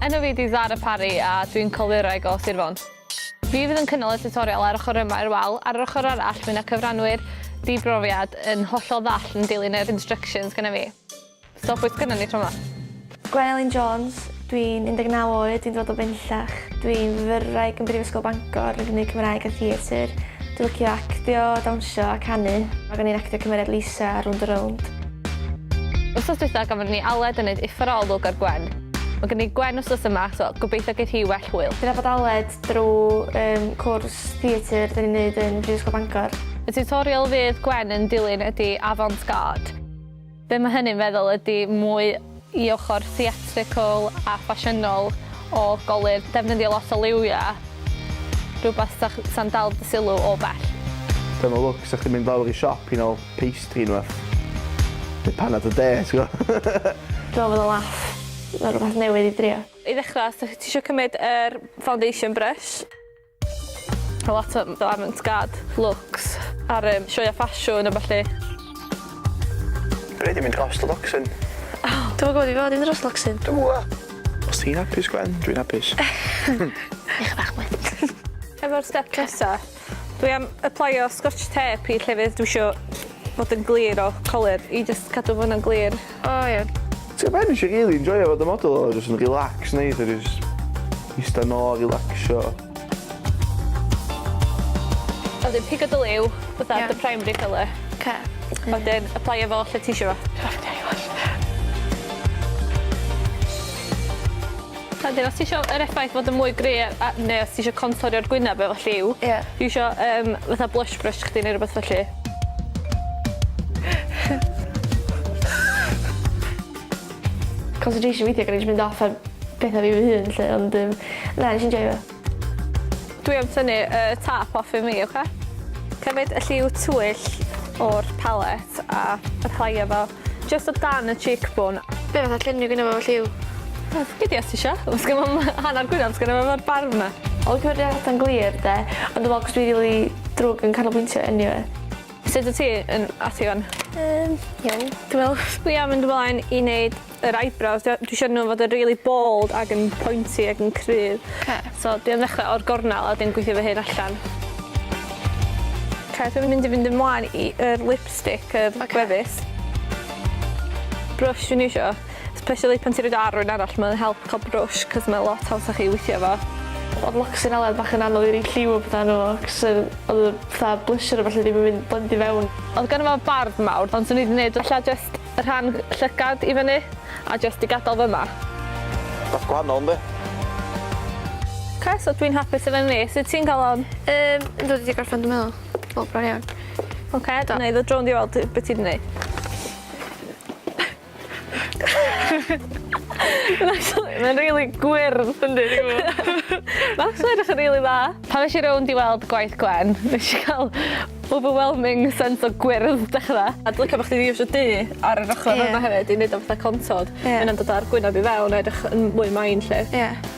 Enw fi di Zara Parry a dwi'n colureg o Sir Fôn. Fi fydd yn cynnal y tutorial ar ochr yma i'r wal, ar yr ochr arall mae yna cyfranwyr di-brofiad yn hollol ddall yn dilyn yr instructions gyda fi. Stop oes gynnon ni tro 'ma. Gwen Elin Jones, dwi'n 19 oed, dwi'n dod o Fenllach. Dwi'n fyfyrwraig yn Brifysgol Bangor yn gymryd Cymraeg a Theatr. Dwi'n licio actio, dawnsio a canu. Mae gen i'n actio cymeriad Lisa ar Rownd a Rownd. Wsos dwytha gafon ni Aled yn neud uffar o olwg ar Gwen. Mae gen i Gwen wsos yma so gobeithio geith hi well hwyl. Dwi'n nabod Aled drw yym cwrs theatr 'da ni'n neud yn Brifysgol Bangor. Y tiwtorial fydd Gwen yn dilyn ydi Avant Garde. Be mae hynny'n feddwl ydy mwy i ochr theatrical a ffasiynol o golur, defnyddio lot o liwia, rhywbeth sa sa'n dal dy sylw o bell. Dyma look sa chdi'n mynd lawr i siop i nol pastry neu rwbath. Neu panad a de ti'n gwbo. Dwi me'wl bod o'n laff fel rwbath newydd i drio. I ddechra os ti isio cymryd yr foundation brush. A lot o avant-garde looks ar yym sioeau ffasiwn a ballu. Rhaid i mynd dros Luxon. Dwi'm yn gwybod i fod i mynd dros Luxon. Dwi'm yn gwybod. Os ti'n hapus Gwen, dwi'n hapus. Eich bach mwy. Efo'r step nesa, dwi am aplaio Scotch Tape i llefydd dwi isio bod yn glir o colur i jyst cadw fo'n glir. O iawn. Ti'n gwbod be nes i rili enjoio fod yn model oedd o jyst yn relax neis a jyst ista nôl a relacsio. A wedyn pigo dy liw fatha... Ie. ...dy primary colour. Oce. A wedyn aplaio fo lle ti isio fo. Dwi'n myn' i aplaio fo ll-... A 'dyn os ti isio yr effaith fod yn mwy gry' a a ne' os ti isio contorio'r gwyneb efo lliw... Ie. ...iwsio yym fatha blush brush chdi ne' rwbeth felly. Concentration weithia' gynnai js mynd off ar petha fi fy hun 'lly ond yym na nesh i enjoio fo. Dwi am tynnu y top off i mi oce? Cymryd y lliw twyll o'r palet a applyio fo Jyst o dan y cheek bone. Be' fatha lluniau gynno fo felly yw? Gei di os ti isio. Os gynno fo m- hanner gwynab os gynno fo efo'r barf 'na. Odd cyfrifiaduron yn glir 'de? Ond dwi me'wl achos dwi rili drwg yn canolbwyntio eniwe. Sut wyt ti yn at Iwan? Yym iawn dwi me'wl. Dwi am mynd ymlaen i neud yr eyebrows dwi a- dwi isio n'w fod yn rili bold ag yn pointy ag yn cryf. Oce. So dwi am ddechre o'r gornel a wedyn gweithio fy hun allan. Oce dwi mynd i fynd ymlaen i yr lip lipstick yy Oce. ...gwefus. Brush dwi'n iwsio especially pan ti roid o ar rywun arall ma'n help ca'l brush 'c'os mae lot hawsach i withio efo. Odd Loxinella bach yn anodd i roi lliw a petha arno fo 'c'os yr odd y fatha blusher a ballu ddim yn mynd blendio fewn. Odd ganddo fo barf mawr ond swn i 'di neud ella jyst y rhan llygad i fyny a jyst 'di gadal fyma. Bach gwahanol yndi? Oce so dwi'n hapus efo ni. Sut ti'n ca'l on? Yym yndw dwi 'di gorffan dwi meddwl. O, bron iawn. Oce, okay, dyna i ddod drond i weld beth ti'n gwneud. Mae'n rili gwyrdd, yn dweud i gwybod. Max yn edrych yn rili dda. Pan nes i rownd i weld gwaith Gwen, nes i cael overwhelming sense o gwyrdd dechrau. A dwi'n cael bod chdi ddifs o du ar yr ochr yeah. yma hefyd i wneud o fatha contod. Yeah. Yna'n dod ar gwynaf i fewn a edrych yn mwy main lle. Yeah.